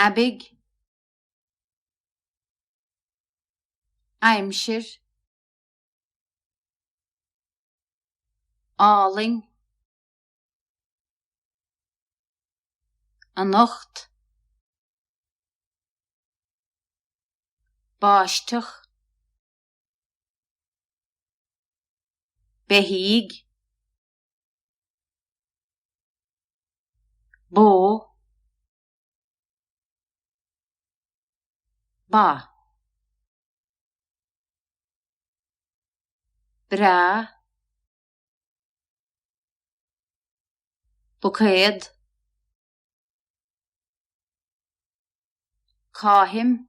aibigh, aimsir, álainn, anocht, báisteach. beithígh, bó, ba, breá, buicéad, caithim.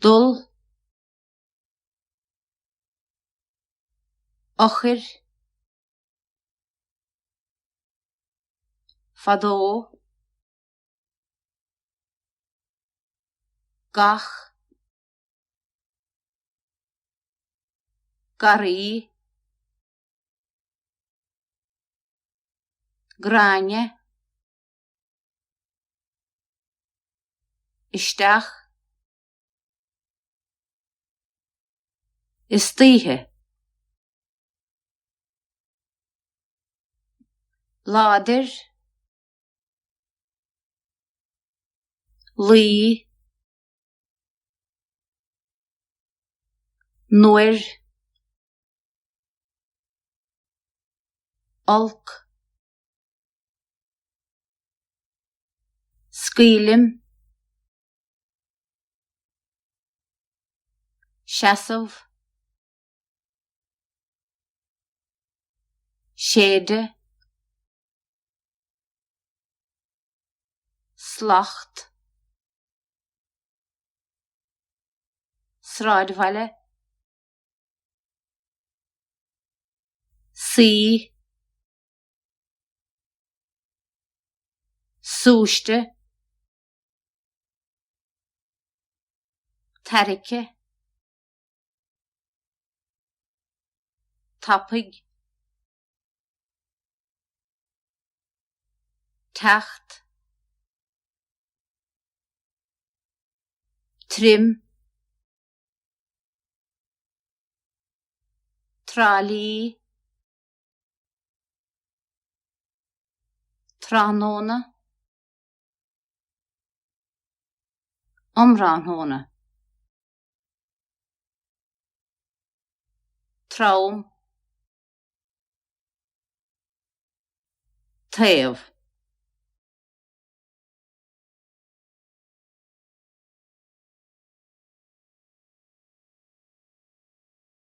dul, eochair, fadó, gach, garraí, Gráinne. isteach, istoíche, láidir, luí, nuair, olc. scaoilim, seasamh, séideadh, slacht, sráidbhaile, suí. súiste, tairgthe, tapaidh, teacht, tirim, Trá Lí. Tráthnóna Um thráthnóna. Trom. Taobh.